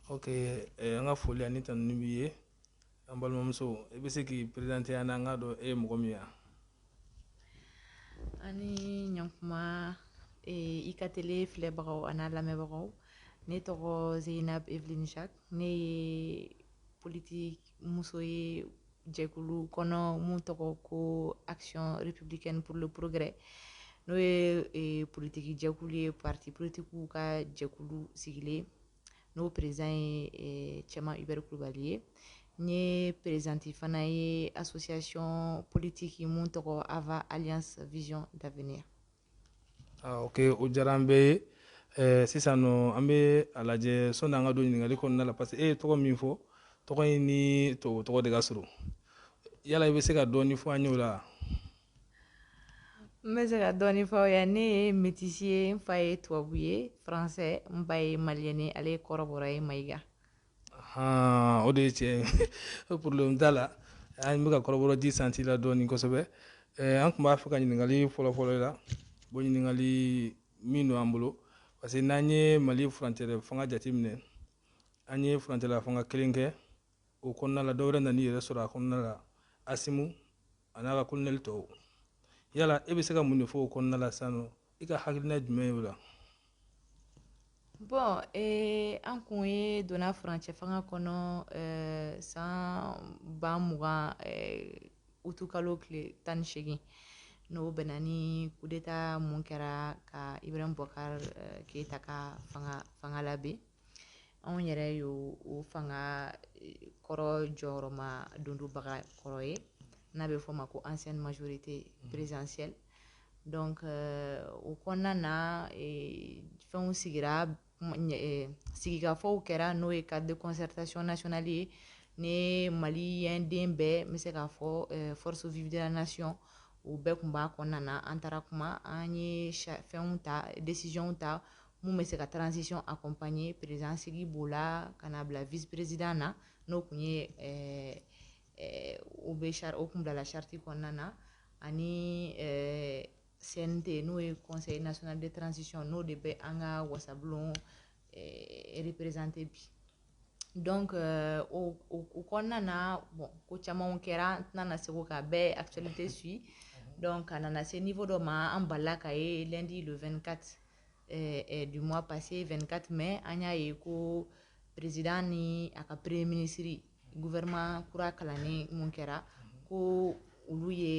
ok eh, an ka foli ani tanuni b'i ye an balimamuso i bɛ se k'i perezante an na an k'a dɔn e ye mɔgɔ min ye ani ɲankuma eh, i ka tele filɛbagaw an'a lamɛnbagaw ne tɔgɔ zeinab evelyn jacques ne ye politiki muso ye jɛkulu kɔnɔ mun tɔgɔ ko action républicaine pour le progrès n'o ye e, politiki jɛkulu ye parti politikiw ka jɛkulu sigilen n'o perezidan ye e, cɛman hubert kulubali ye n ye perezidanti fana ye association politiki mun tɔgɔ ava alliance vision d'avenir ok o diyara an bɛɛ ye eh, sisan nɔ an bɛ a lajɛ sɔni an ka don ɲininkali kɔnɔna la parce que e ye tɔgɔ min fɔ tɔgɔ in ni tubabu tɔgɔ de ka surun yala i bɛ se ka dɔɔni fɔ an ye o la n bɛ se ka dɔɔni fɔ aw ye ne ye metisi ye n fa ye tubabu ye faransɛ n ba ye maliyɛn ye ale ye kɔrɔbɔrɔ ye mayiga Aa o de ye tiɲɛ problème t'a la an bɛ ka kɔrɔbɔrɔ di santi la dɔɔni kosɛbɛ an tun b'a fɛ ka ɲininkali fɔlɔfɔlɔ la bon ɲininkali min don an bolo parce que n'an ye mali furancɛla fanga jateminɛ an ye furancɛla fanga kelen kɛ o kɔnɔna la dɔ wɛrɛ nan'i yɛrɛ sɔrɔ a kɔnɔna la asimi a n'a ka kolonɛli tɔw yala e bɛ se ka mun de fɔ o kɔnɔna la sisan nɔ i ka hakilina jumɛn ye o la bon ee an kun ye donna furancɛ fanga kɔnɔ eh, san ba mugan eh, utukalo tile tan ni seegin n'o bɛnna ni kudeta mun kɛra ka ibrahim bubakar eh, keyita ka fanga labin anw yɛrɛ y'o o fanga kɔrɔ jukɔrɔmadondonbaga kɔrɔ ye n'a bɛ fɔ o ma ko ancienne majorité présidentielle donc o kɔnɔna na fɛnw sigira sigikafɔw kɛra n'o ye cadre de concertation nationale ye ni maliyɛn den bɛɛ n bɛ se k'a fɔ forces vives de la nation u bɛɛ tun b'a kɔnɔna na an taara kuma an ye fɛnw ta décisionw ta mun bɛ se ka transition accompagner président sigi b'o la ka n'a bila vice président na n'o tun ye ɛɛ ɛɛ o bɛ charte o tun bilala charte kɔnɔna na ani ɛɛ CNT n'o ye conseil national de transition n'o de bɛ an ka wasabulon ɛɛ représenter bi. donc euh, o o kɔnɔna na bon ko camanw kɛra n tɛna na se k'o ka bɛɛ actualité suit donc a nana se niveau dɔ ma an balala k'a ye lundi le 24 eh, eh, du mois passé 24 mai an y'a ye ko président ni a ka premier ministre gouvernement kura kalannen mun kɛra ko olu ye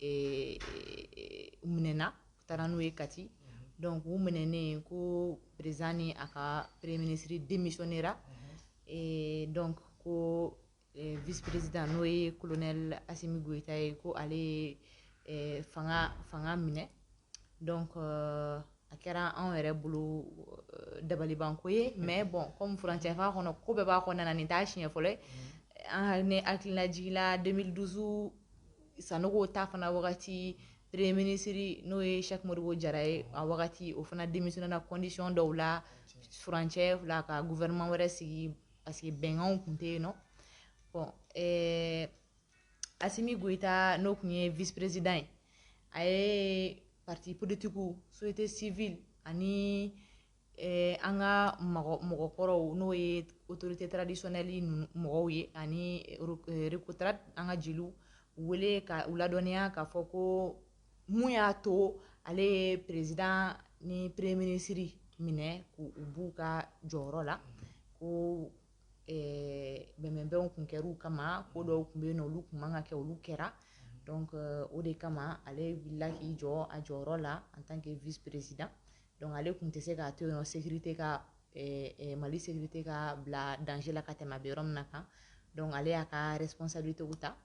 eh, eh, minɛna u taara n'u ye kati donc u minɛnen ko président ni a ka premier ministre démissionnera eh, donc ko Vperez n'o ye kolonɛ asimi gta ye ko ale fanga minɛ dɔn a kɛra anw yɛrɛ bolo dabalibanko ye mɛ bɔn kɔnfacɛ a kɔnɔ ko bɛɛ b'a kɔnɔna na nin taa siɲɛ fɔlɔ ni hakililajila den dusu sanogo ta fana wagati peree minisiriri n'o ye samoribo jara ye a wagati o fana denmisɛnnin na kɔndisiyɔn dɔw la fcɛ fila ka gu vma wɛrɛ sigi parce que bɛnkanw tun tɛ yen nɔ bon ɛɛ asimi goyita n'o tun ye vice président ye a ye parti politikiw société civile ani ɛɛ an ka mɔgɔ mɔgɔkɔrɔw n'o ye autorité traditionnelle ninnu mɔgɔw ye ani recotrade an ka jeliw wele ka u ladɔnniya k'a fɔ ko mun y'a to ale ye président ni premier ministre minɛ k'u b'u ka jɔyɔrɔ la ko bɛnbɛnbɛn tun kɛra u kama ko dɔw tun bɛ yen olu tun man kan ka kɛ olu kɛra o de kama ale wulila k'i jɔ a jɔyɔrɔ la en tant que vice président donc ale tun tɛ se k'a to yen sécurité ka mali sécurité ka bila danger la ka tɛmɛ a bɛ yɔrɔ min na kan donc ale y'a ka responsabilitéw ta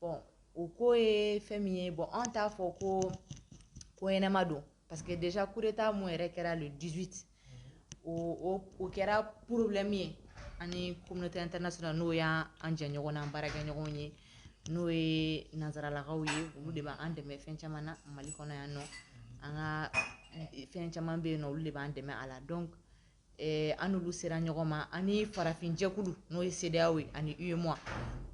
bon o ko ye fɛn min ye bon an t'a fɔ ko ko ɲɛnama don parce que déjà coup d'état mun yɛrɛ kɛra le 18 août o kɛra problème ye ani communauté internationale n'o y'an an jɛɲɔgɔn n'an baarakɛɲɔgɔnw ye n'o ye nanzaralakaw ye olu de b'an dɛmɛ fɛn caman na mali kɔnɔ yan nɔ an ka fɛn caman bɛ yen nɔ olu de b'an dɛmɛ a la donc Ɛɛ an n'olu sera ɲɔgɔn ma ani farafinjɛkulu n'o ye CEDEAO ye ani UEMOA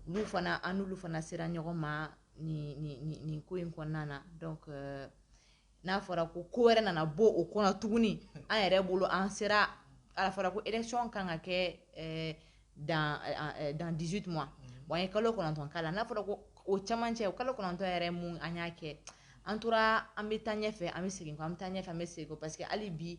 olu fana an n'olu fana sera ɲɔgɔn ma nin ko in kɔnɔna na n'a fɔra ko ko wɛrɛ nana bɔ o kɔnɔ tuguni an yɛrɛ bolo an sera a fɔra ko élection kan ka kɛ dans 18 mois an ye kalo kɔnɔntɔn k'a la n'a fɔra ko o camancɛ o kalo kɔnɔntɔn yɛrɛ mun an y'a kɛ an tora an bɛ taa ɲɛfɛ an bɛ segin an bɛ taa ɲɛfɛ an bɛ segin parce que hali bi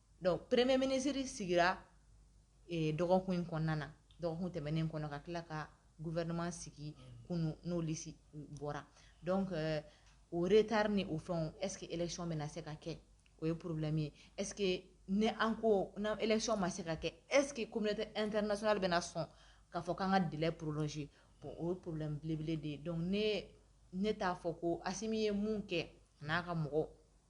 dɔnku peremee minisiriri sigira dɔgɔkun in kɔnɔna na dɔgɔkun tɛmɛnen kɔnɔ ka tila ka guɛinma sigi kun n'o bɔra dɔn otari ni o fɛn esseke econ min na se ka kɛ o ye porobi min ye esseke ne an ko n' econ ma se ka kɛ essekeke ko tɛ e tɛ nasona bɛna na sɔn ka fɔ k'an ka deli porosi bɔn o porobilenbelebele de ye dɔn ne ne t'a fɔ ko a min ye mun kɛ n'a ka mɔgɔ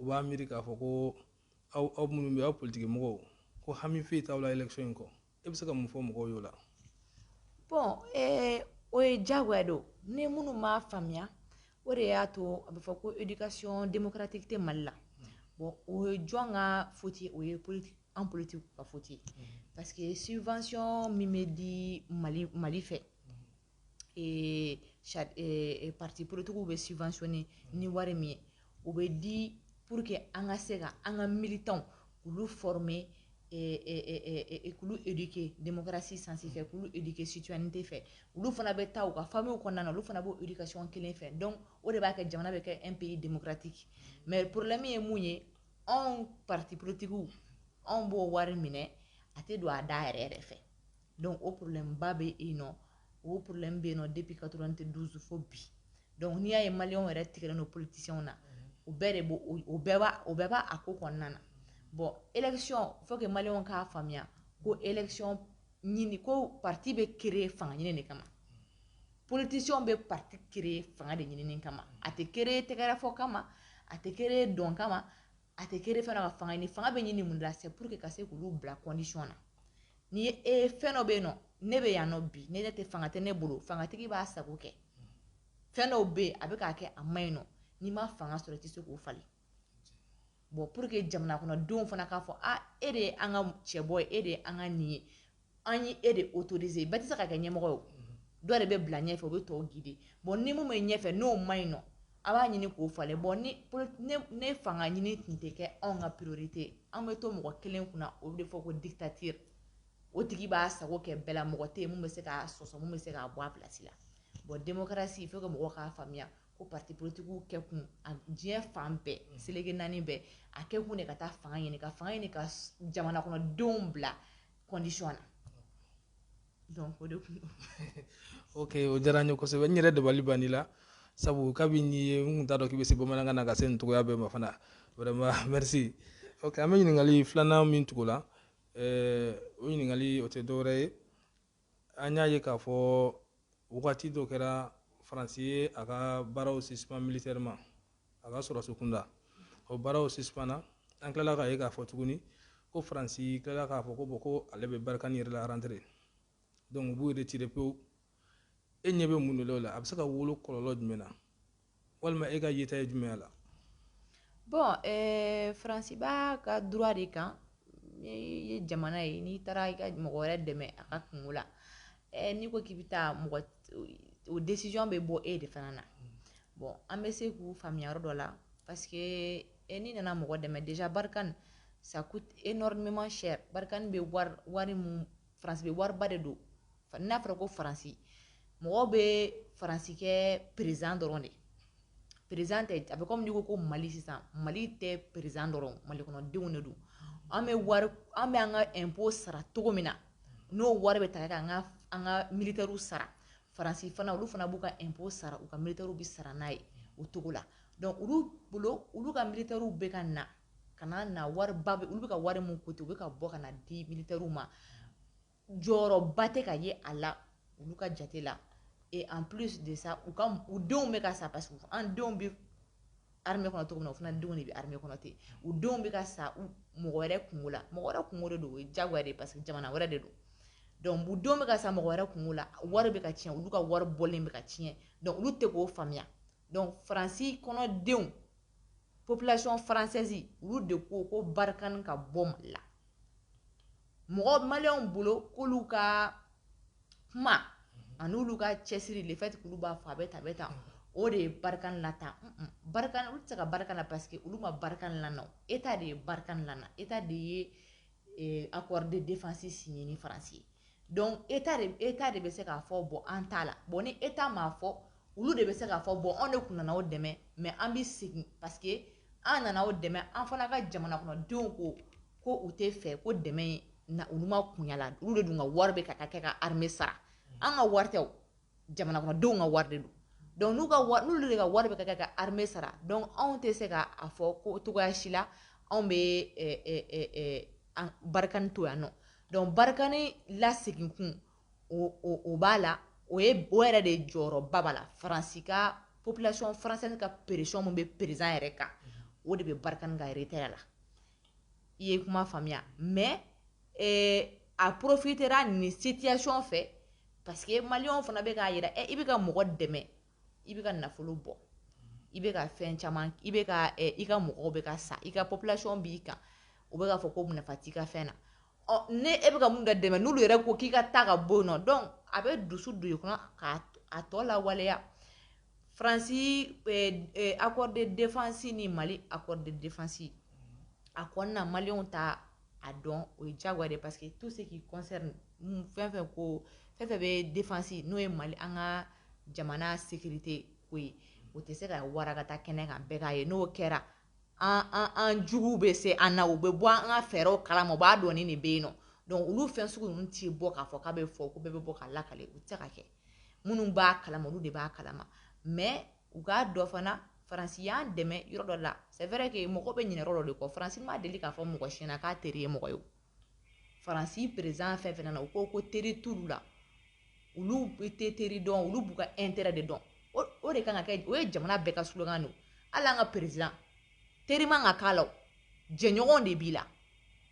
u b'a miiri k'a fɔ ko aw aw minnu bɛ aw politiki mɔgɔw ko hami foyi t'aw la élection in kɔ e bɛ se ka mun fɔ mɔgɔw y'o la bon eh, o ye diyagoya don ni minnu m'a faamuya o de y'a to a bɛ fɔ ko éducation démocratique tɛ mali la bon o ye jɔn ka faute ye o ye an politiki ka faute ye parce que subvention min bɛ di mali mali fɛ ee ee parti politikiw bɛ subventionner ni wari min ye o bɛ di pour que an ka se ka an ka militants k'olu former ee k'olu éduquer démocratie sens fɛ k'olu éduquer citoyenneté fɛ olu fana bɛ taa u ka familles kɔnɔna na olu fana b'o éducation kelen fɛ donc o de b'a kɛ jamana bɛ kɛ un pays démocratique mais problème ye mun ye anw parti politikiw anw b'o wari minɛ a tɛ don a da yɛrɛ yɛrɛ fɛ. dɔnku o porolenba bɛ e nɔ o plen bɛ yen nɔ de bi ka dɔrɔn tɛ dusufo bi dɔnku n'i y'a ye mali yɛrɛ tigɛ n'o politisiw na o bɛɛ de o bɛɛ b'a a ko kɔnɔna na bɔn ecɔn fo ka mali k'a faamuya ko ec ɲini ko pati bɛ ke fanga ɲini de kama politisiw bɛ pati ke fanga de ɲini kama a tɛ ke tɛgɛɛrɛ fɔ kama a tɛ ke dɔn kama a tɛ créer fɛn ka fanga ɲini fanga bɛ ɲini mun la c'est pour que ka se k'olu bila condition na ni ye e eh, fɛn dɔ bɛ yen nɔ ne bɛ yan nɔ bi ne tɛ fanga tɛ ne bolo fangatigi b'a sago kɛ fɛn dɔw bɛ yen a bɛ k'a kɛ a ma ɲi nɔ n'i ma fanga sɔrɔ i tɛ se k'o falen bon pour que jamana kɔnɔdenw fana k'a fɔ a ah, e de ye an ka cɛbɔ ye e de ye an ka nin ye an y' e de autoriser bɛɛ tɛ se ka kɛ ɲɛmɔgɔ ye dɔ de bɛ bila ɲɛfɛ o bɛ tɔw guider bon ni min bɛ ɲɛfɛ n'o ma ɲi nɔ a b'a ɲini k'o falen bon ni fanga ɲini tun tɛ kɛ anw ka priorité an bɛ to mɔgɔ kelen kunna o de fɔ ko dictature o tigi b'a sago kɛ bɛɛ la mɔgɔ tɛ min bɛ se k'a sɔsɔ min bɛ se k'a bɔ a place la bon démocratie faut que mɔgɔw k'a faamuya ko parti politikiw kɛ kun diɲɛ fan bɛɛ seleke naani bɛɛ a kɛ kun de ka taa fanga ɲini ka fanga ɲini ka jamana kɔnɔ denw bila condition na donc o de kun ok o diyara n ye kosɛbɛ n yɛrɛ dabali banni la sabu kabi n y'i ye n kun t'a dɔn k'i bɛ se bamanankan na ka se nin cogoya bɛɛ ma fana vraiment merci ok an bɛ ɲininkali filanan min tugu la ɛɛ o ɲininkali o tɛ dɔwɛrɛ ye an y'a ye k'a fɔ wagati dɔ kɛra faransi ye a ka baaraw sisipan militairement a ka sɔrɔdasi kunda o baaraw sisipanna an tilala k'a ye k'a fɔ tuguni ko faransi tilala k'a fɔ ko bon ko ale bɛ barkhane yɛrɛ la rentrer donc u b'u retirer pewu e ɲɛ bɛ mun de la o la a bɛ se ka wolo kɔlɔlɔ jumɛn na walima e ka yeta ye jumɛn la bɔn eh, faransi b'a ka droit de kan n'i ye jamana ye n'i taara i ka mɔgɔ wɛrɛ dɛmɛ a ka kungo la eh, n'i ko k'i bɛ taa mɔgɔ o décision bɛ bɔ e de fana na bɔn an bɛ se k'u faamuya yɔrɔ dɔ la parce que eh, n'i nana mɔgɔ dɛmɛ déjà barikani ça coûte énormément cher barikani bɛ wari wari mun faransi bɛ wariba de don n'a fɔra ko faransi mɔgɔ bɛ faransi kɛ président dɔrɔn de président tɛ a bɛ kɔmi n'i ko ko mali sisan mali tɛ président dɔrɔn mali kɔnɔdenw de don an bɛ wari an bɛ an ka impôt sara cogo min na n'o wari bɛ ta ka an ka an ka militɛriw sara faransi fana olu fana b'u ka impôt sara u ka militɛriw bɛ sara n'a ye o cogo la donc olu bolo olu ka militɛriw bɛ ka na ka na na wariba bɛ olu bɛ ka wari mun coûter u bɛ ka bɔ ka na di militɛriw ma jɔyɔrɔba tɛ ka ye a la olu ka jate la et en plus de ça u ka u denw bɛ ka sa parce que an denw bɛ armée kɔnɔ cogo min na u fana denw de bɛ armée kɔnɔ ten u denw bɛ ka sa mɔgɔ wɛrɛ kungo la mɔgɔ wɛrɛ kungo de don o ye jagoya de ye parce que jamana wɛrɛ de don donc u denw bɛ ka sa mɔgɔ wɛrɛ kungo la wari bɛ ka tiɲɛ olu ka wari bɔlen bɛ ka tiɲɛ donc olu tɛ k'o faamuya donc faransi kɔnɔdenw population française olu de ko ko barikani ka bɔ mali la mɔgɔ maliyɛnw bolo k'olu ka kuma ani olu ka cɛsiri le fait k'olu b'a fɔ a bɛ tan a bɛ tan o de ye barikani lataa barikani olu tɛ se ka barikani la parce que olu ma barikani lana eta de ye barikani lana eta de ye eh, accord de défense signé ni faransi ye donc eta de eta de bɛ se k'a fɔ bɔn an t'a la bɔn ni eta m'a fɔ olu de bɛ se k'a fɔ bɔn anw de kun nana o dɛmɛ mais an bɛ segin parce que an nana o dɛmɛ an fana ka jamana kɔnɔdenw ko ko u tɛ fɛ ko dɛmɛ na olu ma kun y'a la olu de dun ka wari bɛ ka taa kɛ ka armée sara an ka wari tɛ jamanadenw ka wari de don donc n'u ka n'olu de ka wari bɛ ka kɛ ka armée sara donc anw tɛ se k'a fɔ ko cogoya si la anw bɛ barikani to yan nɔ donc barikani lasegin kun o b'a la o ye bɔ yɛrɛ de jɔyɔrɔba b'a la faransi ka population française ka pression bɛ président yɛrɛ kan o de bɛ barikani ka retrait la i ye kuma faamuya mais eh, a profitera nin situation fɛ parce que maliyɛnw fana bɛ k'a yira eh, i bɛ ka mɔgɔ dɛmɛ i bɛ ka nafolo bɔ i bɛ ka fɛn caman i bɛ ka eh, i ka mɔgɔw bɛ ka sa i ka population b'i kan u bɛ k'a fɔ ko nafa t'i ka fɛn na Ɔ ne e bɛ ka mun de dɛmɛ n'olu yɛrɛ ko k'i ka taa ka bɔ yen nɔ donc a bɛ dusu don i kɔnɔ k'a tɔ lawaleya faransi eh, eh, accord de défense ni mali accord de défense a kɔnɔna maliyɛnw t'a dɔn o ye diyagoya de parce que tout ce qui concerne fɛn fɛn ko fɛn fɛn bɛ défense n'o ye mali an ka jamana sécurité ko ye o tɛ se ka waragata kɛnɛ kan bɛɛ k'a ye n'o kɛra an juguw bɛ se an na u bɛ bɔ an ka fɛɛrɛw kalama u b'a dɔn ni nin bɛ yen nɔ donc olu fɛn sugu ninnu t'i bɔ k'a fɔ k'a bɛ fɔ ko bɛɛ bɛ bɔ k'a lakale u tɛ se ka kɛ minnu b'a kalama olu de b'a kalama mais u k'a dɔn fana faransi y'an dɛmɛ yɔrɔ dɔ la c'est vrai que mɔgɔ bɛ ɲinɛ yɔrɔ dɔ de kɔ faransi ma deli k'a fɔ mɔgɔ si ɲɛna k'a teri ye mɔgɔ ye faransi président fɛn fɛn nana u ko ko teri t'olu la olu tɛ teri dɔn olu b'u ka intérêt de dɔn o de kan ka kɛ o ye jamana bɛɛ ka slogan don hali an ka président teri man kan k'a la o jɛɲɔgɔn de b'i la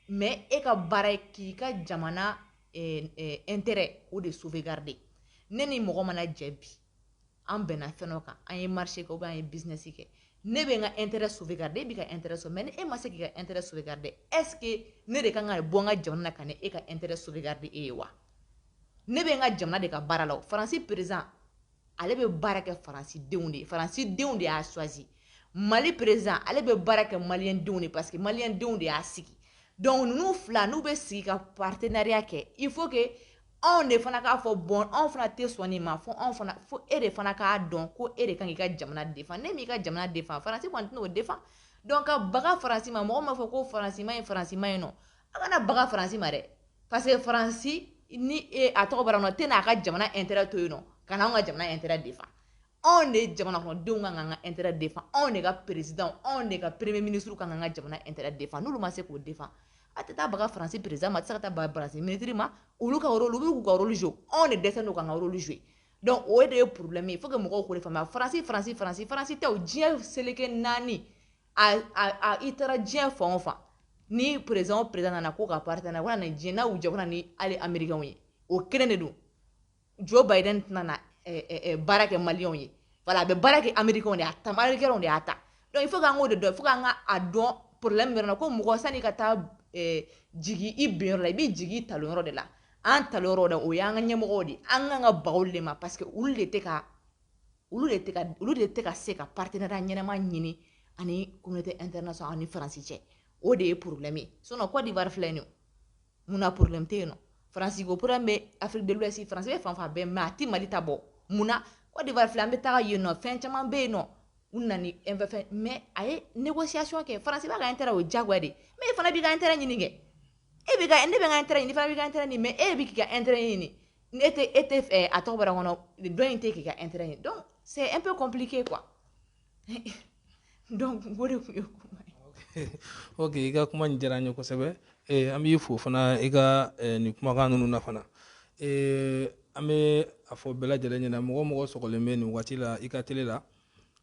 mais e ka baara ye k'i ka jamana eh, eh, intérêt o de sauvegarder ne ni mɔgɔ mana jɛ bi an bɛnna fɛn dɔ kan an ye marché kɛ ou bien an ye business kɛ ne bɛ n ka intérêt sauvegarder e b'i ka intérêt sauvegarder mais ni e ma se k'i ka intérêt sauvegarder est ce que ne de kan ka bɔ n ka jamana na ka na e ka intérêt sauvegarder e ye wa ne bɛ n ka jamana de ka baara la o faransi président ale bɛ baara kɛ faransi denw de ye faransi denw de y'a choisi mali président ale bɛ baara kɛ maliyɛn denw de parce que maliyɛn denw de y'a sigi donc ninnu fila n'u bɛ sigi ka partenariat kɛ il faut que anw de fana k'a fɔ bon anw fana tɛ sɔn nin ma fo anw fana fo e de fana k'a dɔn ko e de kan k'i ka jamana défend n'e m'i ka jamana défend faransi kɔni tɛn'o défend donc ka baga faransi ma mɔgɔ m'a fɔ ko faransi man ɲi faransi man ɲi nɔ a kana baga faransi ma dɛ parce que faransi ni e a tɔgɔ bara nɔ tɛna a ka jamana intérêt to yen nɔ ka na anw ka jamana intérêt défend anw de jamana kɔnɔ denw kan k'an ka intérêt défend anw de ka président anw de ka premier ministre kan k'an ka jamana intérêt défend n'olu ma se k'o défend a tɛ taa baga faransi président ma a tɛ se ka taa baga faransi ministre ma olu ka rôle olu b'u ka rôle jouer anw de dɛsɛlen don k'an ka rôle jouer donc o de ye problème ye faut que mɔgɔw k'o de faamuya faransi faransi faransi faransi tɛ o diɲɛ seleke naani a a a i taara diɲɛ fan o fan ni président o président nana ko ka partenaire ko na nin diɲɛ n'a y'u jɛ ko na ni hali américain ye o kelen de don joe biden tɛna na baara kɛ maliyɛnw ye voilà a bɛ baara kɛ amerikɛnw de a ta amerikɛnw de y'a ta donc il faut k'an k'o de dɔn faut k'an k'a dɔn problème bɛ yɔrɔ la ko mɔgɔ sani ka taa jigi i ben yɔrɔ la i b'i jigi i talon yɔrɔ de la an talon yɔrɔ de o y'an ka ɲɛmɔgɔw de an kan ka baga olu de ma parce que olu de tɛ ka olu de tɛ ka olu de tɛ ka se ka partenariat ɲɛnama ɲini an ni communauté internationale ani faransi cɛ o de ye problème ye sinon Côte d'Ivoire filɛ nin ye mun na problème tɛ yen nɔ france ko problème bɛ afrique de l'ouest france bɛ fan fan bɛɛ mais a tɛ mali ta bɔ mun na côte d'ivoire filɛ an bɛ taga yen nɔ fɛn caman bɛ yen nɔ u nana ni fɛn mais a ye négociation kɛ france b'a ka intérêt o diyagoya de mais e fana b'i ka intérêt ɲini kɛ e bɛ ka ne bɛ n ka intérêt ɲini fana b'i ka intérêt ɲini mais e bɛ k'i ka intérêt ɲini e tɛ e tɛ a tɔgɔ bɔra kɔnɔ dɔ in tɛ k'i ka intérêt ɲini donc c'est un peu compliqué quoi donc o de tun ye kuma ye ok i ka kuma nin diyara n ye kosɛbɛ eh, an b'i fo fana i ka eh, nin kumakan ninnu na fana eh, an bɛ a fɔ bɛɛ lajɛlen ɲɛna mɔgɔ o mɔgɔ sɔgɔlen bɛ nin waati la i ka tele la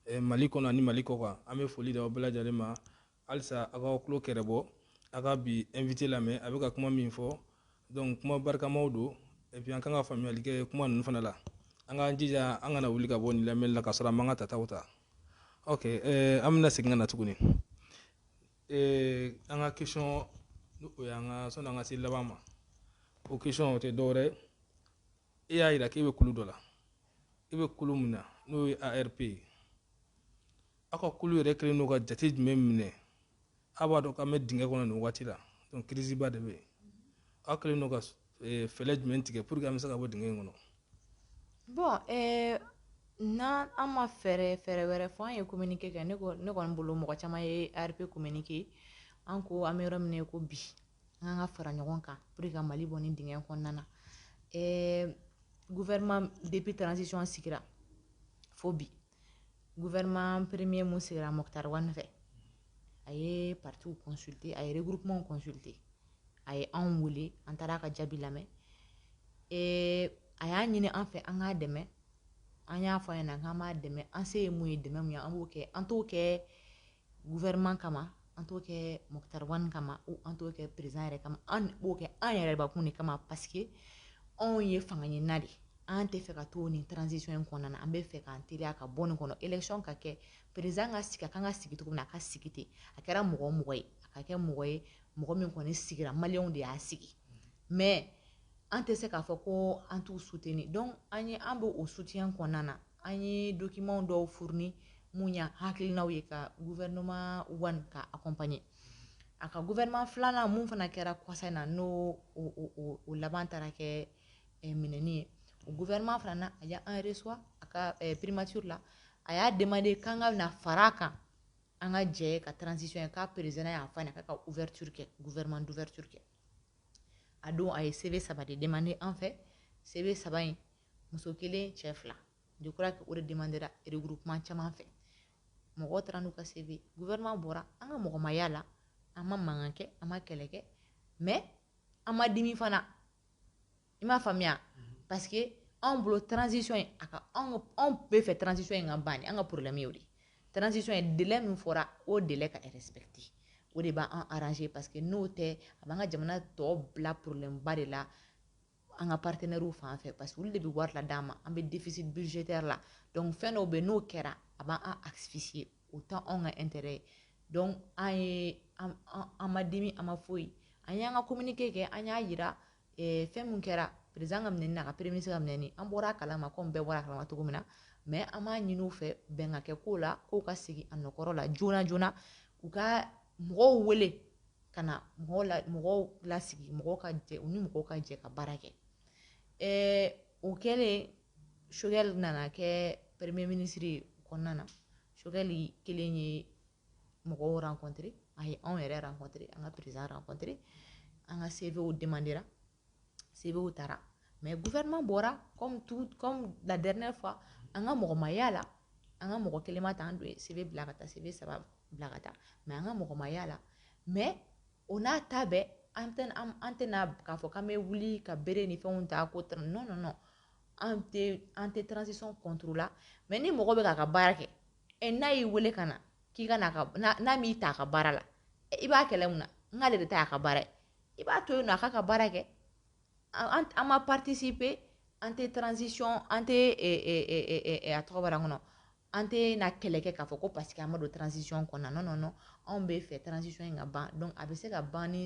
eh, mali kɔnɔ ani mali kɔkan an bɛ foli da aw bɛɛ lajɛlen ma Halisa a k'aw tulo kɛrɛbɔ, a ka bi invité lamɛn, a bɛ ka kuma min fɔ, donc kuma barikamaw don et puis an ka kan ka faamuyali kɛ kuma ninnu fana la. An k'an jija an kana wuli ka bɔ nin lamɛnni la k'a sɔrɔ an m'an ka tataw ta. Ok, ɛɛ an bɛna segin ka na tuguni an ka question ni o y'an ka sɔni an ka se laban ma, o question o tɛ dɔwɛrɛ ye e y'a jira k'e bɛ kulu dɔ la e bɛ kulu min na n'o ye arp ye aw ka kulu yɛrɛ kɛlen don ka jate jumɛn minɛ aw b'a dɔn k'an bɛ dingɛ kɔnɔ nin waati la donc crise ba de bɛ yen aw kɛlen don ka eh, fɛɛrɛ jumɛn tigɛ pour que an bɛ se ka bɔ dingɛ in kɔnɔ bon eh, n'an an ma fɛɛrɛ fɛɛrɛ wɛrɛ fɔ an ye communiqué kɛ ne kɔni bolo mɔgɔ caman ye arp communiqué an ko an bɛ yɔrɔ min na ko bi an k'an ka fara ɲɔgɔn kan pour que ka mali bɔ nin dingɛ kɔnɔna na ɛɛ gouvernement depuis transition sigira fo bi gouvernement premier mun sigira moctar ouane fɛ a ye partiw consulté a ye regroupement consulté a ye anw wele an taara ka jaabi lamɛn ee a y'a ɲini an fɛ an k'a dɛmɛ an y'a fɔ a ɲɛna k'an b'a dɛmɛ an se ye mun ye dɛmɛ mun ye an b'o kɛ an t'o kɛ gouvernement kama an t'o kɛ moctar ouane kama ou an t'o kɛ président yɛrɛ kama an b'o kɛ an yɛrɛbakun de kama parce que anw ye fanga ɲinina de an tɛ fɛ ka to nin transition in kɔnɔna na an bɛ fɛ k'an teliya ka bɔ nin kɔnɔ élection ka kɛ président ka sigi a kan ka sigi cogo min na a ka sigi ten a kɛra mɔgɔ o mɔgɔ ye a ka kɛ mɔgɔ ye mɔgɔ min kɔni sigira maliyɛnw de y'a sigi mais an tɛ se k'a fɔ ko an t'u soutenir donc an ye an bɛ o soutien kɔnɔna na An ye document dɔw fourni mun y'an hakilinaw ye ka gouvernement Ouane ka accompagner a ka gouvernement filanan mun fana kɛra kɔsa in na n'o o laban taara kɛ eh, minɛni ye o gouvernement fana na a y'an reçoit a ka eh, primature la a y'a demandé k'an ka na fara a kan an ka jɛ ka transition ye k'a président y'a fɔ a ɲɛna k'a ka ouverture kɛ gouvernement d'ouverture kɛ a don a ye CV saba de demandé an fɛ CV saba in muso kelen cɛ fila je crois que o de demandera regroupement caman fɛ mɔgɔ taara n'u ka CV gouvernement bɔra an ka mɔgɔ ma y'a la an ma mankan kɛ an ma kɛlɛ kɛ mais an ma dimi fana i m'a faamuya parce que anw bolo transition in a ka anw anw bɛ fɛ transition in ka ban an ka problème y'o de ye transition in délai min fɔra o délai ka respecter o de b'an arranger parce que n'o tɛ a b'an ka jamana tɔ bila problème ba de la an ka partenaires fan fɛ parce que olu de bɛ wari la d'an ma an bɛ déficit budgétaire la donc fɛn dɔw bɛ yen n'o kɛra a b'an an asphyxier o tɛ anw ka intérêt ye donc an ye an an ma dimi an ma foyi an y'an ka communiqué kɛ an y'a yira eh, fɛn min kɛra président ka minɛni na a ka premier ministre ka minɛni an bɔra a kalama komi bɛɛ bɔra a kalama cogo min na mais an b'a ɲini u fɛ bɛn ka kɛ ko la k'u ka segin a nɔkɔrɔ la joona joona u ka mɔgɔw wele ka na mɔgɔw la mɔgɔw lasigi mɔgɔw ka jɛ u ni mɔgɔw ka jɛ ka baara kɛ ɛɛ o kɛlen Choguel nana kɛ premier ministre ye kɔnɔna na Choguel kelen ye mɔgɔw rencontré a ye anw yɛrɛ rencontré an ka président rencontré an ka CVw demandera CVw taara mais gouvernement bɔra comme la dernière fois an ka mɔgɔ ma y'a la an ka mɔgɔ kelen ma ta an dun ye CV bila ka taa CV saba bila ka taa mais an ka mɔgɔ ma y'a la mais o n'a ta bɛɛ an tɛ an tɛna k'a fɔ k'an bɛ wuli ka bere ni fɛnw ta ko non non non an tɛ an tɛ transition contre la mais ni mɔgɔ bɛ k'a ka baara kɛ ɛ n'a y'i wele ka na k'i ka n'a m'i ta a ka baara la i b'a kɛlɛ mun na n k'ale de ta a ka baara ye i b'a to yen nɔ a k'a ka baara kɛ an an ma participer an tɛ transition an tɛ a tɔgɔ bɔra n kɔnɔ an tɛna kɛlɛ kɛ k'a fɔ ko parce que an ma don transition kɔnɔna na non non anw bɛ fɛ transition in ka ban donc a bɛ se ka ban ni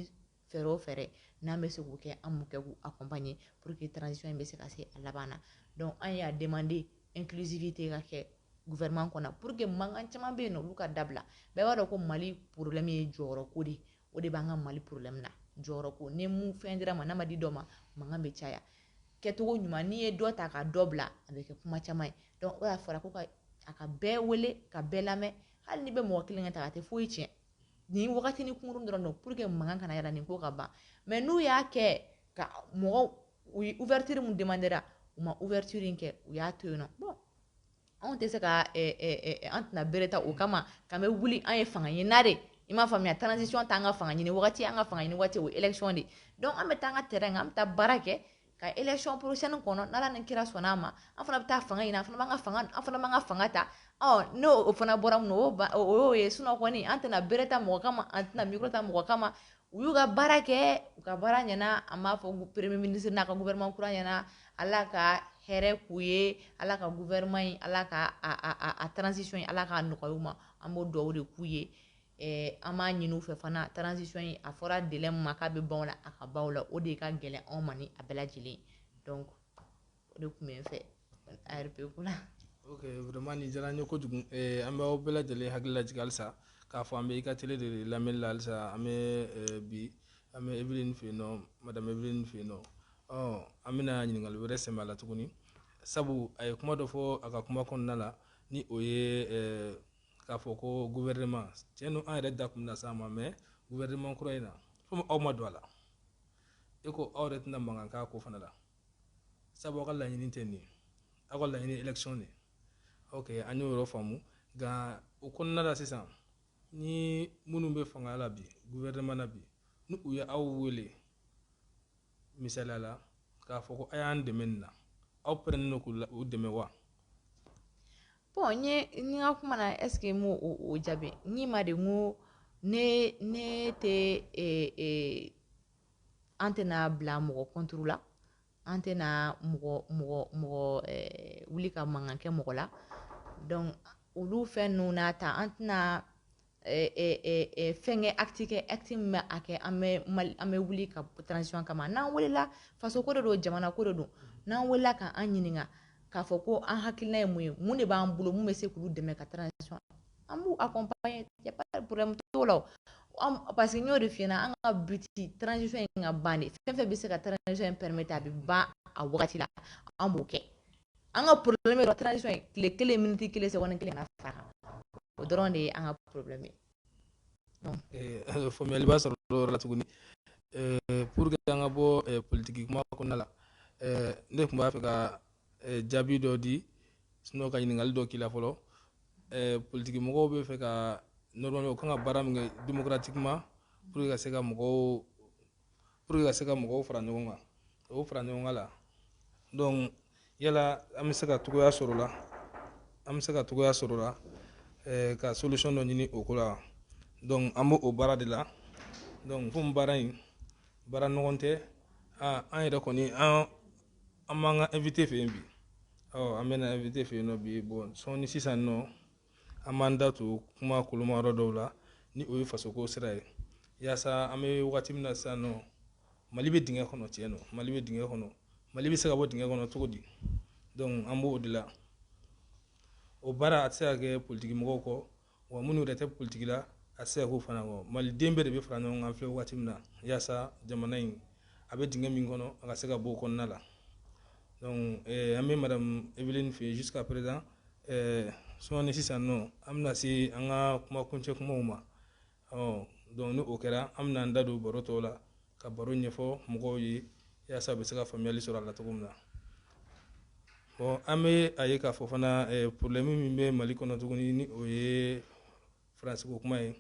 fɛɛrɛ o fɛɛrɛ n'an bɛ se k'o kɛ an b'o kɛ k'u accompagner pour que transition in bɛ se ka se a laban na donc an y'a demander inclusivité ka kɛ gouvernement kɔnɔ pour que mankan caman bɛ yen nɔ olu ka dabila bɛɛ b'a dɔn ko mali problème ye jɔyɔrɔko de ye o de b'an ka mali problème na jɔyɔrɔ ko ni min fɛn dira ma n'a ma di dɔ ma mankan bɛ caya kɛcogo ɲuman n'i ye dɔ ta ka dɔ bila a bɛ kɛ kuma caman ye donc o y'a fɔra ko ka a ka bɛɛ wele ka bɛɛ lamɛn hali n'i bɛ mɔgɔ kelen ka ta a tɛ foyi tiɲɛ nin wagatinin kunkurun dɔrɔn don pour que mankan kana yɛlɛn nin ko ka ban mais n'u y'a kɛ ka mɔgɔw ye ouverture min demandera u ma ouverture in kɛ u y'a to yen nɔ Anw tɛ se ka an tɛna bere ta o kama k'an bɛ wuli an ye fanga ɲinina de i m'a faamuya transition t'an ka fanga ɲini waati an ka fanga ɲini waati o ye élection de donc an bɛ taa an ka terrain kan an bɛ taa baara kɛ ka élection prochaine kɔnɔ n'ala ni kira sɔnna an ma an fana bɛ taa fanga ɲini an fana ka an fana b'an ka fanga ta n'o fana bɔra min na o y'o ye sinon kɔni an tɛna bere ta mɔgɔ kama an tɛna bita mɔgɔ kama u y'u ka baara kɛ u ka baara ɲɛna an b'a fɔ premier ministre n'a ka gouvernement kura ɲɛna ala ka hɛrɛ k'u ye ala ka gouvernement in ala ka a a a a transition in ala k'a nɔgɔya u ma an b'o dugawu de k'u ye eh, an b'a ɲini u fɛ fana transition in a fɔra délai min ma k'a bɛ ban o la a ka ban o la o de ka gɛlɛn anw ma ni a bɛɛ lajɛlen donc o de tun bɛ n fɛ arp ko la ok vraiment nin diyara n ye kojugu eh, an bɛ aw bɛɛ lajɛlen hakili lajigin halisa k'a fɔ an bɛ i ka tele de lamɛnni la halisa an bɛ eh, bi an bɛ evelyn fɛ yen nɔ madame evelyn fɛ yen nɔ ɔ an bɛna ɲininkali wɛrɛ sɛmɛ a la tuguni sabu a ye kuma dɔ fɔ a ka kuma kɔnɔna la ni o ye eh, k'a fɔ ko gouvernement tiɲɛ don an yɛrɛ da tun bɛna s'a ma mais gouvernement kura in na komi aw ma don a la e ko aw yɛrɛ tɛna mankan k'a ko fana la sabu aw ka laɲini tɛ nin aw ka laɲini élection de ok an y'o yɔrɔ faamu nka o kɔnɔna la sisan ni minnu bɛ fanga la bi gouvernement na bi ni u ye aw wele misaliya la k'a fɔ ko a y'an dɛmɛ nin na aw pɛrɛnnen don k'u dɛmɛ wa bon n ye n ka kuma na est ce que n m'o o jaabi n k'i ma de n ko ne ne tɛ ee ee an tɛna bila mɔgɔ contre la an tɛna mɔgɔ mɔgɔ mɔgɔ eh, wuli ka mankan kɛ mɔgɔ la donc olu fɛn ninnu n'a ta an tɛna eh, eh, eh, fɛnkɛ acte kɛ acte min bɛ a kɛ an bɛ mali an bɛ wuli ka transition kama n'an welela faso ko de don jamana ko de don n'an welela ka an ɲininka k'a fɔ ko an hakilina ye mun ye mun de b'an bolo mun bɛ se k'olu dɛmɛ ka transition an b'u accompagner y a pas de problème t'o la o an parce que n y'o de f'i ɲɛna an ka but transition in ka ban de fɛn fɛn bɛ se ka transition in permettre a bɛ ban a wagati la an b'o kɛ an ka problème ye dɔrɔn transition in tile kelen miniti kelen seconde kelen kana far'a kan o dɔrɔn de ye an ka problème ye donc eh, faamuyaliba sɔrɔ o yɔrɔ la tuguni eh, pour que an ka bɔ eh, politiki kuma kɔnɔna la ne tun b'a fɛ ka eh, jaabi dɔ di sinon ka ɲininkali dɔ k'i la fɔlɔ eh, politiki mɔgɔw bɛ fɛ ka normalement u kan ka baara min kɛ démocratiquement pour ka se ka mɔgɔw pour ka se ka mɔgɔw fara ɲɔgɔn kan o fara ɲɔgɔn kan la donc yala an bɛ se ka cogoya sɔrɔ la an bɛ se ka cogoya sɔrɔ la eh, ka solution dɔ ɲini o ko la donc an b'o o baara de la donc komi baara in baara nɔgɔn tɛ an yɛrɛ kɔni an An b'an ka invité fɛ yen bi ɔ an bɛna invité fɛ yen nɔ bi bon sɔɔni sisan nɔ an b'an da to kuma koloma yɔrɔ dɔw la ni o ye fasoko sira ye yaasa an bɛ wagati min na sisan nɔ mali bɛ dingɛ kɔnɔ tiɲɛ don mali bɛ dingɛ kɔnɔ mali bɛ se ka bɔ dingɛ kɔnɔ cogo di donc an b'o de la o baara a tɛ se ka kɛ politikimɔgɔw kɔ wa minnu yɛrɛ tɛ politiki la a tɛ se ka k'o fana kɔ maliden bɛɛ de bɛ fara ɲɔgɔn kan filɛ waati min na yaasa jamana in a bɛ dingɛ min kɔnɔ a ka se ka bɔ o kɔnɔna la donc eh, an bɛ madame eveline fɛ jusqu'à présent eh, sɔɔni sisan nɔ an bɛna se an ka kuma kuncɛ kumaw ma ɔ donc ni o kɛra an bɛna an da don baro tɔw la ka baro ɲɛfɔ mɔgɔw ye yaasa u bɛ se ka faamuyali sɔrɔ a la cogo min na bon an bɛ a ye k'a fɔ fana eh, problème min bɛ mali kɔnɔ tuguni ni o ye faransi ko kuma ye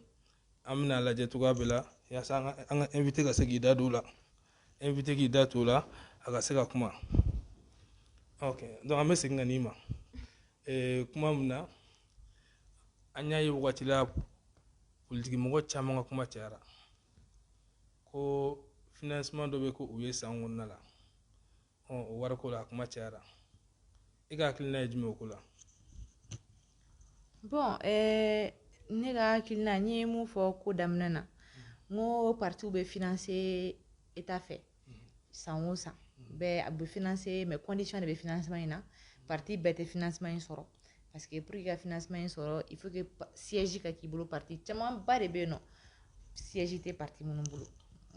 an bɛna a lajɛ cogoya bɛɛ la yaasa an ka invité ka se k'i da don o la invité k'i da t'o la a ka se ka kuma ok donc an bɛ segin ka n'i ma eh, kuma min na an y'a ye wagati la politikimɔgɔ caman ka kuma cayara ko financement dɔ bɛ k'u ye san kɔnɔna la ɔ o wariko la a kuma cayara i ka hakilina ye jumɛn o ko la bon eh, ne ka hakilina n ye mun fɔ ko daminɛ na n ko partiw bɛ financer état fɛ san o san bɛɛ a bɛ finanse mɛ kɔndisɔn de bɛ finansima in na pati bɛɛ tɛ finansima in sɔrɔ parce que pour ka finansima in sɔrɔ i fo siji ka k'i bolo pati camanba de bɛ yen nɔ siji tɛ pati minnu bolo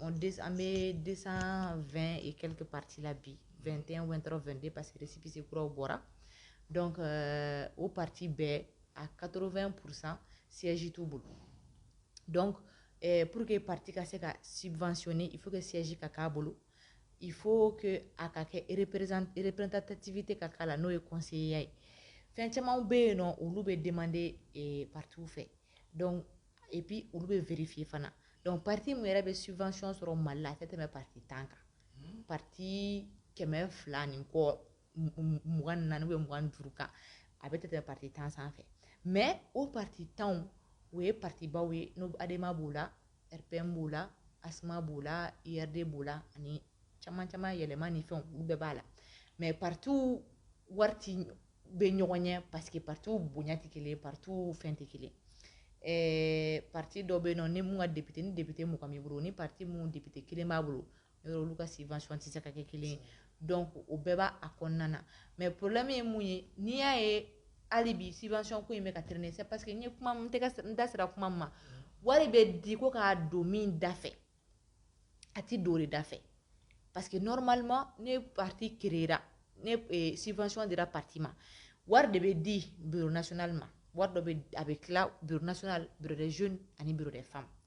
an bɛ de2 e kɛ pati la bi 2tɛn2tɔ2 de parce que sipsi kuraw bɔra dɔn o pati bɛɛ a kato2 psan sji t'u bolo donc eh, pour que parti ka se ka subventionner il faut que siège ka k'a bolo il faut que a ka kɛ représentativité ka k'a la n'o ye conseillerya ye fɛn camanw bɛ yen nɔ olu bɛ demander eh, partiw fɛ donc et puis olu bɛ vérifier fana donc parti min yɛrɛ bɛ subvention sɔrɔ mali la a tɛ tɛmɛ parti tan kan parti kɛmɛ fila ni kɔ mugan naani ou mugan duuru kan a tɛ tɛmɛ parti tan sanfɛ mais o parti tanw o ye partibaw ye n'o adema b'o la rpm b'o la asma b'o la urd b'o la ani caman caman yɛlɛma ni fɛn olu bɛɛ b'a la mais partiw wari tɛ bɛn ɲɔgɔn ɲɛ parce que partiw bonya tɛ kelen partiw fɛn tɛ kelen parti dɔ bɛ yen nɔ ni mun ka député ni député mugan b'i bolo ni parti min député kelen b'a bolo yɔrɔ olu ka subvention tɛ se ka kɛ kelen ye donc o bɛɛ b'a kɔnɔna na mais problème ye mun ye n'i y'a ye hali bi subvention ko in bɛ ka traîner c'est parce que n ye kuma n tɛgɛ n da sera kuma min ma wari bɛ di ko k'a don min da fɛ a tɛ don o de da fɛ parce que normalement ni parti créera ni eh, subvention dira parti ma wari de bɛ di bureau national ma wari dɔ bɛ a bɛ tila bureau national bureau des jeunes ani bureau des femmes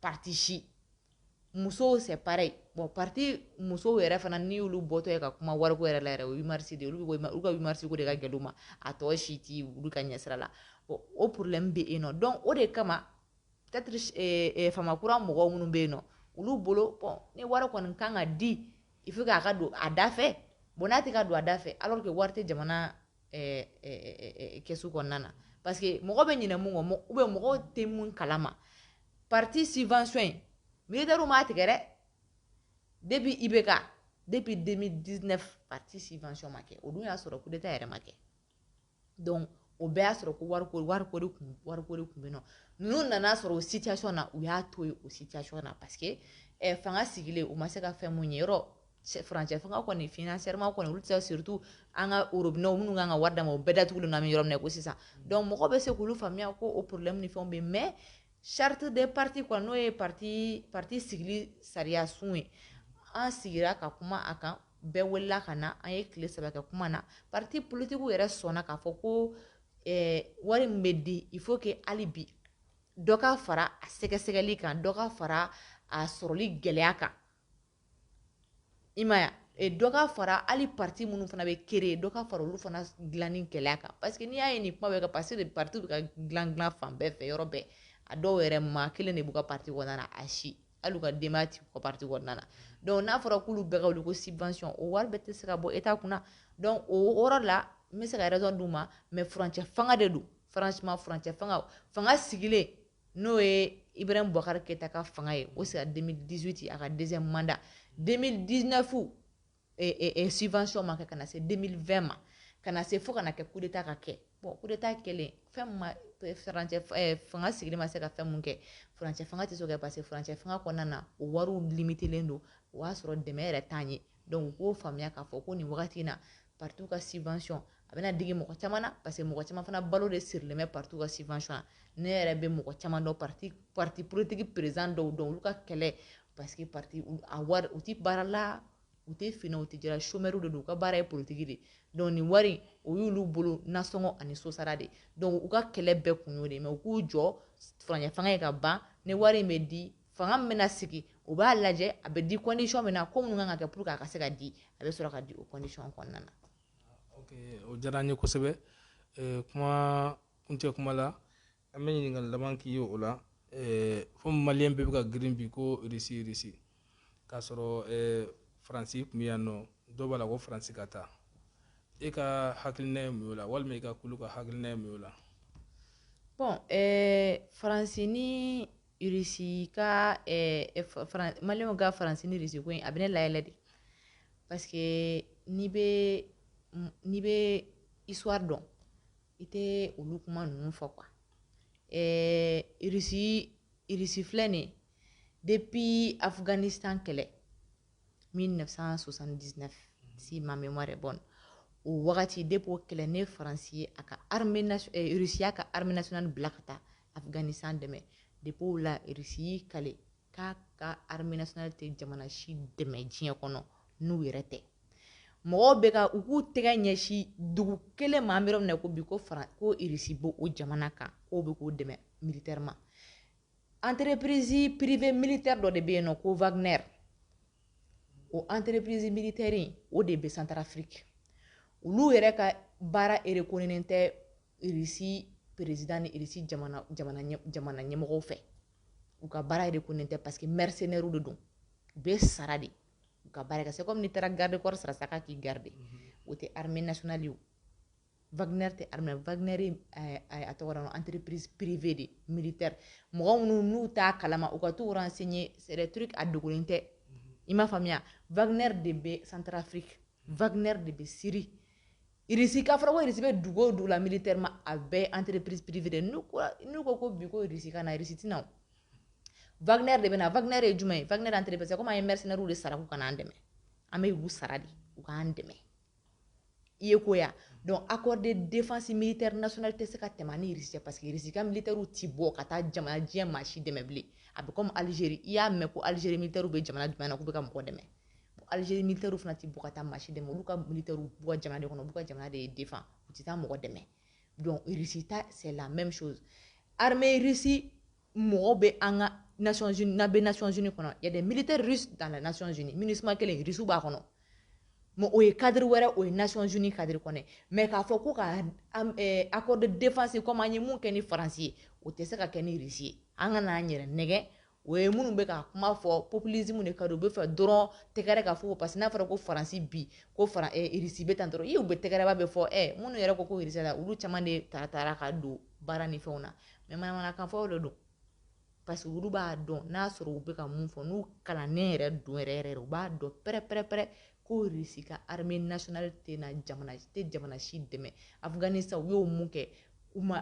parti si musow c'est pareil bon parti musow yɛrɛ fana n'i y'olu bɔtɔ ye ka kuma wariko yɛrɛ la yɛrɛ o ye 8 mars de olu bɛ olu ka 8 mars ko de ka gɛlɛn u ma a tɔ si ti olu ka ɲɛsira la bon o problème bɛ yen nɔ donc o de kama peut-être eh, eh, fama kura mɔgɔw minnu bɛ yen nɔ olu bolo bon ni wari kɔni kan ka di il faut k'a ka don a da fɛ bon n'a tɛ ka don a da fɛ alors que wari tɛ jamana kɛsu kɔnɔna na parce que mɔgɔ bɛ ɲinɛ mun kɔ ou bien mɔgɔw tɛ mun kalama parti subvention in militaires m'a tigɛ dɛ depuis IBK depuis 2019 parti subvention ma kɛ o dun y'a sɔrɔ coup d'état yɛrɛ ma kɛ donc o bɛɛ y'a sɔrɔ ko wariko wariko de kun wariko de kun bɛ yen nɔ ninnu nana sɔrɔ o situation na u y'a to yen o situation na parce que ɛ fanga sigilen u ma se ka fɛn mun ye yɔrɔ furancɛ fanga kɔni financièrement kɔni olu tɛ surtout an ka robinets minnu kan ka wari d'an ma o bɛɛ datugulen don an bɛ yɔrɔ min na ko sisan donc mɔgɔ bɛ se k'olu faamuya ko o problème ni fɛn bɛ mais charte des partis kɔnɔ n'o ye parti parti sigili sariya sun ye an sigira ka kuma a kan bɛɛ welela ka na an ye tile saba kɛ kuma na parti politiquew yɛrɛ sɔnna k'a fɔ ko wari min bɛ di il faut que hali bi dɔ ka fara a sɛgɛsɛgɛli kan dɔ ka fara a sɔrɔli gɛlɛya kan i m'a ye dɔ ka fara hali parti minnu fana bɛ créer dɔ ka fara olu fana dilanni gɛlɛya kan parce que n'i y'a ye nin kuma bɛ kɛ parce que parti bɛ ka dilan dilan fan bɛɛ fɛ yɔrɔ bɛɛ a dɔw yɛrɛ maa kelen de b'u ka parti kɔnɔna na a si hali u ka denbaya t'u ka parti kɔnɔna na donc n'a fɔra k'olu bɛɛ ka wuli ko subvention o wari bɛɛ tɛ se ka bɔ État kunna donc o yɔrɔ la n bɛ se ka raison d'u ma mais furancɛ fanga de don franchement furancɛ fanga fanga sigilen n'o ye i bɛ bukari kɛta ka fanga ye o sera denmisɛnninmidisiti a ka dɛsɛ manda denmisɛnninmidinafu sifasɔn ma kɛ ka na se denmisɛnnin2 ma ka na se fo kana na kɛ kudeta ka kɛ bɔn kudeta kɛlen fɛn fanga sigilen ma se ka fɛn min kɛurancɛ fanga tɛ se ka parce quecɛ fanga kɔnɔna na o wariw limitlen don o y'a sɔrɔ dɛmɛ yɛrɛ tan ye dɔnku k'o faamuya k'a fɔ ko nin wagati in na patu ka sifayɔn a bɛna digi mɔgɔ caman na parce que mɔgɔ caman fana balo de sirilen bɛ parti ka subvention na ne yɛrɛ bɛ mɔgɔ caman dɔn parti parti politique président dɔw dɔn olu ka kɛlɛ parce que parti a wari u tɛ baara la u tɛ fin na u tɛ jɛ la chômeur de don u ka baara ye politique de donc nin wari o y'olu bolo nasɔngɔ ani sosara de donc u ka kɛlɛ bɛɛ kun y'o de ye mais u k'u jɔ furancɛ fanga ye ka ban ni wari in bɛ di fanga min bɛna sigi u b'a lajɛ a bɛ di condition min na ko minnu kan ka kɛ pour que a ka se ka di a bɛ sɔrɔ ka di o condition kɔnɔna na o diyara n ye kosɛbɛ kuma kuncɛ kuma la an bɛ ɲininkali laban k'i ye o la fo maliyɛn bɛɛ bɛ ka girin bi ko irisi irisi k'a sɔrɔ faransi tun bɛ yan nɔ dɔw b'a la ko faransi ka taa e ka hakilina ye mun y'o la walima i ka kulu ka hakilina ye mun y'o la bon faransi ni Irisi ka Mali ka Faransi ni Irisi ko in a bɛ ne layɛlɛ de parce que n'i bɛ n'i bɛ histoire dɔn i tɛ olu kuma ninnu fɔ quoi eh Irisi filɛ nin ye depuis Afghanistan kɛlɛ mille neuf cent soixante-dix-neuf si ma mémoire est bonne o wagati depuis o kɛlɛ ne Faransi ye a ka Irisi y'a ka armée nationale bila ka taa Afghanistan dɛmɛ depuis o la Russie y'i kale k'a ka armée nationale tɛ jamana si dɛmɛ diɲɛ kɔnɔ n'u yɛrɛ tɛ mɔgɔw bɛ ka u k'u tɛgɛ ɲɛsin dugu kelen ma an bɛ yɔrɔ min na ko bi ko Fara ko Russie b'o o jamana kan k'o bɛ k'o dɛmɛ militairement entreprise privée militaire dɔ de bɛ yen n'u ko Wagner o entreprise militaire in o de bɛ Centrafrique olu yɛrɛ ka baara erekoninen tɛ irisi perezd ni irisi jamana ɲɛmɔgɔ fɛ u ka baara yɛrɛ ko nin tɛ parce que mrisenɛrw de don u bɛ sara de u ka baara se kɔmi taara garidekɔrɔ sara sa k'i garidi o tɛ hamiinali ye vgɛ tɛ vgɛ a tɔgɔ an tiripiriz perepve de miiri tɛ mɔgɔ minnu n'u ta kalama u ka to sen ye sɛɛrɛtouru a dogolen tɛ i m'a faamuya vgɛ de bɛ santuraf vgɛ de bɛ siri Irisi k'a fɔra ko Irisi bɛ dugu o dugu la militairement a bɛɛ ye entreprise privée de n'u ko n'u ko ko bi ko Irisi ka na Irisi tɛ na o Wagner de bɛ na Wagner ye jumɛn ye Wagner entreprise comme an ye mercenaires de sara k'u ka na an dɛmɛ an bɛ u sara de u k'an dɛmɛ i ye ko ya donc accord de défense militaire nationale tɛ se ka tɛmɛ an ni Irisi cɛ parce que Irisi ka militaires tɛ bɔ ka taa jamana diɲɛ maa si dɛmɛ bilen a bɛ comme Algérie i y'a mɛn ko Algérie militaires bɛ jamana jumɛn na k'u bɛ ka mɔgɔ dɛmɛ Algérie militaires fana tɛ bɔ ka taa maa si dɛmɛ olu ka militaires b'u ka jamana de kɔnɔ u b'u ka jamana de défend u tɛ taa mɔgɔ dɛmɛ donc Russie ta c'est la même chose armée Russie mɔgɔ bɛ an ka Nations Unies n'a bɛ Nations Unies kɔnɔ il y a des militaires russes dans les Nations Unies MINUSMA kelen Russie b'a kɔnɔ mais o ye cadre wɛrɛ o ye Nations Unies cadre kɔnɔ mais k'a fɔ ko ka eh, accord de défense comme an ye min kɛ ni France ye o tɛ se ka kɛ ni Russie ye an kan'an yɛrɛ nɛgɛn O ye minnu bɛ ka kuma fɔ populisme de ka don u b'a fɛ dɔrɔn tɛgɛrɛ ka fɔ parce que n'a fɔra ko Faransi bi ko Fara eh, Irisi bɛ tan dɔrɔn i u bɛ tɛgɛrɛba bɛ fɔ eh, minnu yɛrɛ ko ko Irisi la olu caman de ta taara ka don baara ni fɛnw na mais manamanakan fɔw de don parce que olu b'a dɔn n'a sɔrɔ u bɛ ka mun fɔ n'u kalannen yɛrɛ don yɛrɛ yɛrɛ u b'a dɔn pɛrɛpɛrɛpɛrɛ ko Irisi ka armée nationale tɛna jamana tɛ jamana si dɛmɛ Afghanistan u ye mun kɛ u ma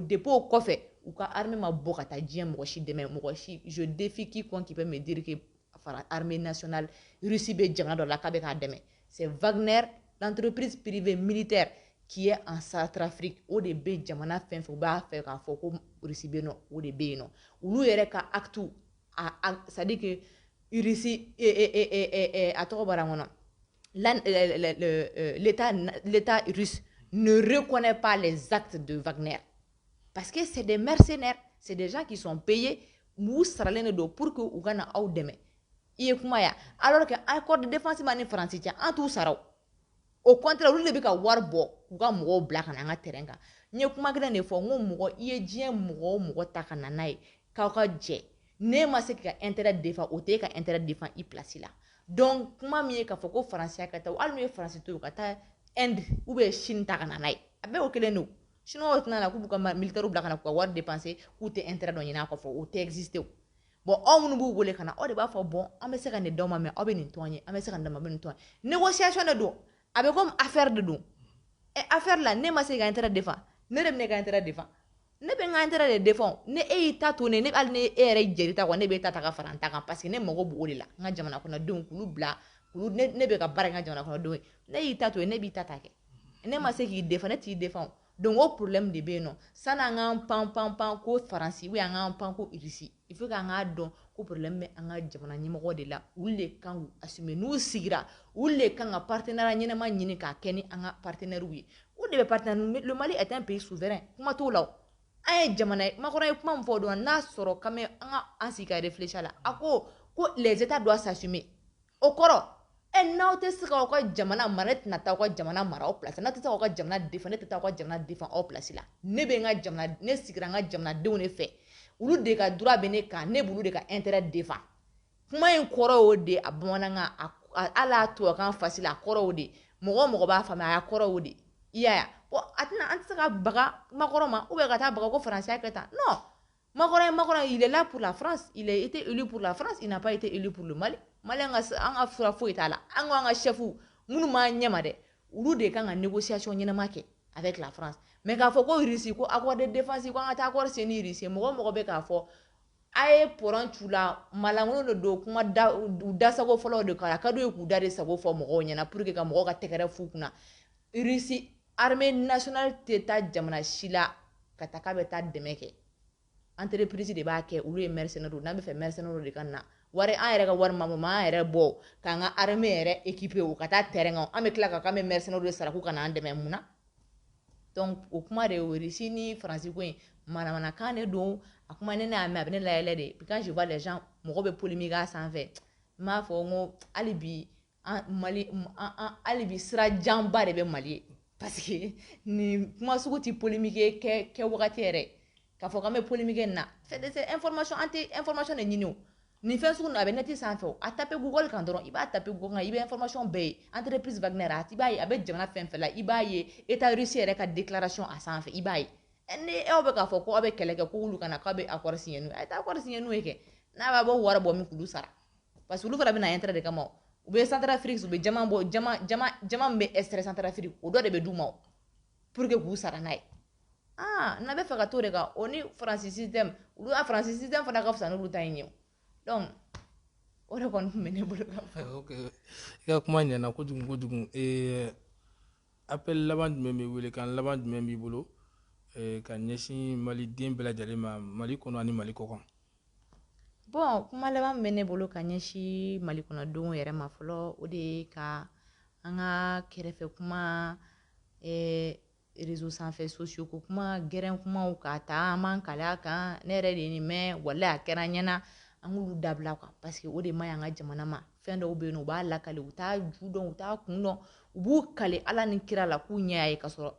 depuis o kɔfɛ u ka armée ma bɔ ka taa diɲɛ mɔgɔ si dɛmɛ mɔgɔ si je défie quiconque qui peut me dire que fara armée nationale Russie bɛ jamana dɔ la k'a bɛ k'a dɛmɛ c'est Wagner l'entreprise privée militaire qui est en Centrafrique o de bɛ jamana fɛn fɛn u b'a fɛ k'a fɔ ko Russie bɛ yen nɔ o de bɛ yen nɔ olu yɛrɛ ka acte a c'est à dire que irisi a tɔgɔ bɔra n kɔnɔ l'état russe ne reconnaît pas les actes de Wagner parce que c'est des mercenaires c'est des gens qui sont payés olu saralen de don pour que u ka na aw dɛmɛ i ye kuma ya alors que accord de défense ma ni faransi cɛ an t'u sara au contraire olu de bɛ ka wari bɔ k'u ka mɔgɔw bila ka na an ka terrain kan n ye kuma kelen de fɔ n ko mɔgɔ i ye diɲɛ mɔgɔ o mɔgɔ ta ka na n'a ye k'aw ka jɛ n'e ma se k'i ka intérêt défend o t'e ka intérêt défend i place la donc kuma min ye k'a fɔ ko faransi ka taa hali n'u ye faransi to yen u ka taa inde ou bien chine ta ka na n'a ye a bɛɛ o kelen don chinois tɛna na k'u b'u ka militaire bila ka na k'u ka wari dépenser k'u tɛ intérêt dɔ ɲini a kɔfɛ o tɛ exister bon aw minnu b'u wele ka na aw de b'a fɔ bon an bɛ se ka nin d'aw ma mais aw bɛ nin to an ye an bɛ se ka nin d'aw ma aw bɛ nin to an ye négociation de don a bɛ komi affaire de don ɛ affaire la n'e ma se k'i ka intérêt défend ne de bɛ ne ka intérêt défend ne bɛ n ka intérêt de défend ni e y'i ta to ne ne hali ni e yɛrɛ jɛr'i ta kɔ ne b'e ta ta ka fara n ta kan parce que ne mago b'o de la n ka jamana kɔnɔdenw k'olu bila k'olu ne ne bɛ ka baara kɛ n ka jamana kɔnɔdenw ye n'e y'i ta to yen ne b'i ta ta kɛ n'e ma se k'i défend ne t'i défend donc o problème de bɛ yen nɔ san'an k'an pan pan pan ko faransi ou bien an k'an pan ko irisi il faut k'an k'a dɔn ko problème bɛ an ka jamana ɲɛmɔgɔw de la olu de kan k'u assumer n'u sigira olu de kan ka partenariat ɲɛnama ɲini k'a kɛ ni an ka partenaires ye o de bɛ partenaire le Mali est un pays souverain kuma t'o la o an ye jamana ye Macron ye kuma min fɔ o don n'a sɔrɔ quand même an ka an sigi ka réfléchir a la a ko ko les états doivent s'assumer o kɔrɔ e n'aw tɛ se k'aw ka jamana mara ne tɛna taa aw ka jamana mara aw place n'aw tɛ se k'aw ka jamana défend ne tɛ taa aw ka jamana défend aw place la ne bɛ n ka jamana ne sigira n ka jamanadenw de fɛ olu de ka droit bɛ ne kan ne b'olu de ka intérêt défend kuma in kɔrɔ y'o de a bamanankan a hali a tubabukan fasila a kɔrɔ y'o de mɔgɔ o mɔgɔ b'a faamuya a kɔrɔ y'o de i y'a ye a tɛna an tɛ se ka baga Macron ma ou bien ka taa baga ko faransi y'a kɛ tan non Macron ye Macron ye il est là pour la France il a été élu pour la France il n'a pas été élu pour le Mali Mali an ka an ka fura foyi t'a la an ko an ka chefs minnu b'an ɲɛma dɛ olu de kan ka négociation ɲɛnama kɛ avec la France mais k'a fɔ ko Russie ko accord de défense ko an ka taa accord signer ni Russie mɔgɔ o mɔgɔ bɛ k'a fɔ a ye pɔrɔn c'u la maalankolon de don kuma da u dasago fɔlɔ de k'a la ka d'u ye k'u da de sago fɔ mɔgɔw ɲɛna pour que ka mɔgɔw ka tɛgɛrɛ f'u kunna Russie armée nationale tɛ taa jamana si la ka taa k'a bɛ taa dɛmɛ kɛ entreprise de b'a kɛ olu ye mercenaires ye n'an bɛ fɛ mercenaires de ka na wari an yɛrɛ ka wari ma bɔ an yɛrɛ bɔ k'an ka armée yɛrɛ équiper u ka taa terrain kan an bɛ tila ka k'an bɛ mercenaires de sara k'u ka n'an dɛmɛ mun na donc o kuma de ye o Russie ni France ko in manamanakan de don a kuma ne n'a mɛn a bɛ ne layɛlɛ de quand je vois les gens mɔgɔ bɛ polémique a sanfɛ n b'a fɔ n ko hali bi hali bi sira janba de bɛ mali ye parce que nin kuma sugu tɛ polémique kɛ wagati yɛrɛ k'a fɔ k'an bɛ polémique nin na fɛn an tɛ information de ɲini nin fɛn sugu a bɛ net sanfɛ a tape Google kan dɔrɔn i b'a tape Google kan i bɛ information bɛɛ ye entreprise Wagner i b'a ye a bɛ jamana fɛn fɛn la i b'a ye État russe yɛrɛ ka déclaration a sanfɛ i b'a ye ni aw bɛ k'a fɔ ko aw bɛ kɛlɛ kɛ k'olu ka na k'aw bɛ accord signer n'u ye kɛ n'a b'a bɔ wari bɔ min k'olu sara parce que olu fana bɛ na intérêt de kama o u bɛ centrafrique u bɛ diamant bɔ diamant diamant diamant min bɛ extrait centrafrique o dɔ de bɛ d'u ma o pour que k'u sara n'a ye aa n'a bɛ fɛ ka t'o de kan o ni faransi système olu a faransi système fana ka fisa n'olu ta in ye o donc o de kɔni tun bɛ ne bolo ka fɔ. ok i ka kuma ɲɛna kojugu kojugu ee appel laban jumɛn b'i wele kan laban jumɛn b'i bolo ee ka ɲɛsin maliden bɛɛ lajɛlen ma mali kɔnɔ ani mali kɔ kan. bon kuma laban min bɛ ne bolo ka ɲɛsin mali kɔnɔdenw yɛrɛ ma fɔlɔ o de ye ka an ka kɛrɛfɛ kuma eh, réseau sanfɛ sociaux ko kuma gɛrɛn kumaw k'a ta an b'an kale a kan ne yɛrɛ de ye nin mɛn walahi a kɛra n ɲɛna an k'olu dabila quoi parce que o de man ɲi an ka jamana ma fɛn dɔw bɛ yen u b'a lakale u t'a ju dɔn u t'a kun dɔn u b'u kale ala ni kira la k'u ɲɛ y'a ye ka sɔrɔ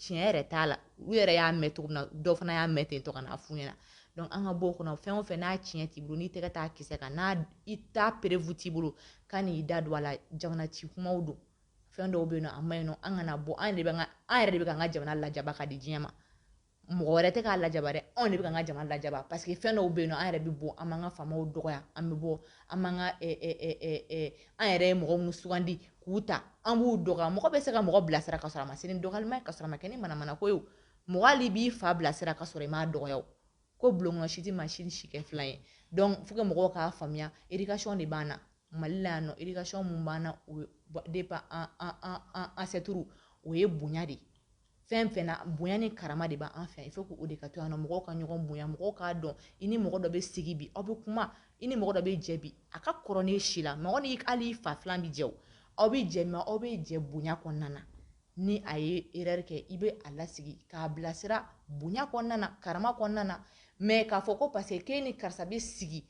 tiɲɛ yɛrɛ t'a la u yɛrɛ y'a mɛn cogo min na dɔ fana y'a mɛn ten tɔ ka n'a f'u ɲɛna donc an ka bɔ o kɔnɔ fɛn o fɛn n'a tiɲɛ t'i bolo n'i tɛgɛ t'a kisɛ kan n'a i t'a preuve t'i bolo kan'i da don a la jamana ci kumaw don fɛn dɔw bɛ yen nɔ a man ɲi nɔ an kana bɔ an yɛrɛ de bɛ ka an yɛrɛ de bɛ ka an ka jamana lajaba ka di diɲɛ ma mɔgɔ wɛrɛ tɛ k'a lajaba dɛ anw de bɛ k'an ka jamana lajaba parce que fɛn dɔw bɛ yen an yɛrɛ bɛ bɔ an b'an ka faamaw dɔgɔya an bɛ bɔ an b'an ka an yɛrɛ ye mɔgɔ minnu sugandi k'u ta an b'u dɔgɔya mɔgɔ bɛ se ka mɔgɔ bilasira ka sɔrɔ a ma se ni dɔgɔyalima ye ka sɔrɔ a ma kɛ ni manamana ko ye mɔgɔ hali b'i fa bilasira ka sɔrɔ i m'a dɔgɔya o ko bulon si tɛ maa si kɛ filan ye donc faut que mɔgɔw k'a faamuya éducation de b'an na mali la yan nɔ éducation mun b'an na o ye depuis an an an an ancêtre o ye bonya de ye fɛn fɛn na bonya ni karama de b'an fɛ il faut que o de ka to yan nɔ mɔgɔw ka ɲɔgɔn bonya mɔgɔw k'a dɔn i ni mɔgɔ dɔ bɛ sigi bi aw bɛ kuma i ni mɔgɔ dɔ bɛ jɛ bi a ka kɔrɔ n'e si la mɔgɔ ni hali i fa filan bɛ jɛ o aw bɛ jɛ mais aw bɛ jɛ bonya kɔnɔna na ni a ye erreur kɛ i bɛ a lasigi k'a bilasira bonya kɔnɔna na karama kɔnɔna na mais k'a fɔ ko parce que k'e ni karisa bɛ sigi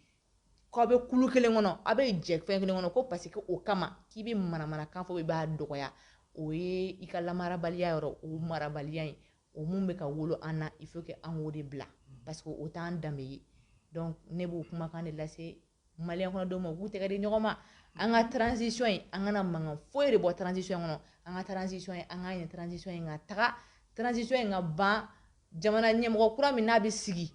k'aw bɛ kulu kelen kɔnɔ aw bɛ jɛ fɛn kelen kɔnɔ ko parce que o kama k'i bɛ manamanakan fɔ i b'a dɔgɔya o ye i ka lamarabaliya yɔrɔ o marabaliya in o min bɛ ka wolo an na il faut que an k'o de bila parce que o t'an danbe ye donc ne b'o kumakan de lase maliyɛn kɔnɔdenw ma u k'u tɛgɛ di ɲɔgɔn ma an ka transition in an kana mankan foyi de bɔ transition kɔnɔ an ka transition in an k'a ɲɛ transition in ka taga transition in ka ban jamana ɲɛmɔgɔ kura min n'a bɛ sigi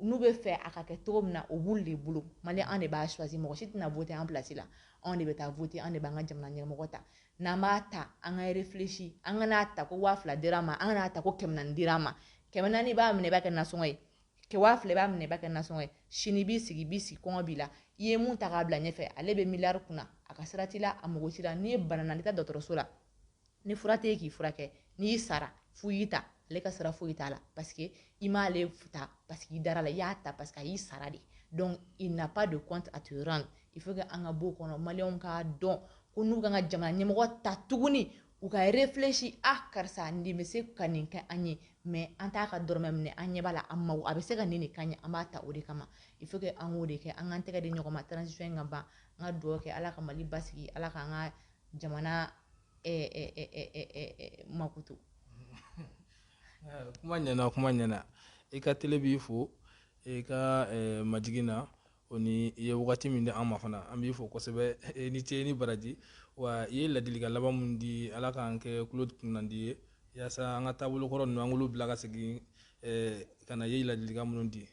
n'u bɛ fɛ a ka kɛ cogo min na o b'olu de bolo mali an de b'a choisi mɔgɔ si tɛna voter an place la anw de bɛ taa voter an de b'an ka jamana ɲɛmɔgɔ ta n'an b'a ta an ka réfléchir an kan'a ta ko waa fila dir'an ma an kan'a ta ko kɛmɛ naani dir'an ma kɛmɛ naani i b'a minɛ i b'a kɛ nasɔngɔ ye kɛ waa fila i b'a minɛ i b'a kɛ nasɔngɔ ye sini i b'i sigi b'i sigi kɔngɔ b'i la i ye mun ta k'a bila ɲɛfɛ ale bɛ miliyari kunna a ka sira t'i la a mago t'i la ni e banana n'i taa dɔgɔtɔrɔso la ni fura tɛ k'i furakɛ ni e sara f'u y'i ta ale ka sira foyi t'a la parce que i m'ale ta parce que i dar'a la i y'a ta parce que a y'i sara de donc il n'a pas de compte à te rendre il faut que an ka b'o kɔnɔ maliyɛnw k'a dɔn ko n'u kan ka jamana ɲɛmɔgɔ ta tuguni u ka réfléchir a ah, karisa nin bɛ se ka nin kɛ an ye mais an t'a ka dɔrɔmɛ minɛ an ɲɛ b'a la an mago a bɛ se ka nin de k'an ye an b'a ta o de kama il faut que an k'o de kɛ an k'an tɛgɛ di ɲɔgɔn ma transition in ka ban an ka dugawu kɛ ala ka mali basigi ala k'an ka jamana makutu kuma ɲɛna kuma ɲɛna i ka tele b'i fo i ka majigin na o ni i ye wagati min di an ma fana an b'i fo kosɛbɛ i ni ce ni baraji wa i ye ladilikan laban min di ala k'an kɛ kulo kunnandi ye yaasa an ka taabolo kɔrɔ ninnu an k'olu bila ka segin ka na i ye ladilikan minnu di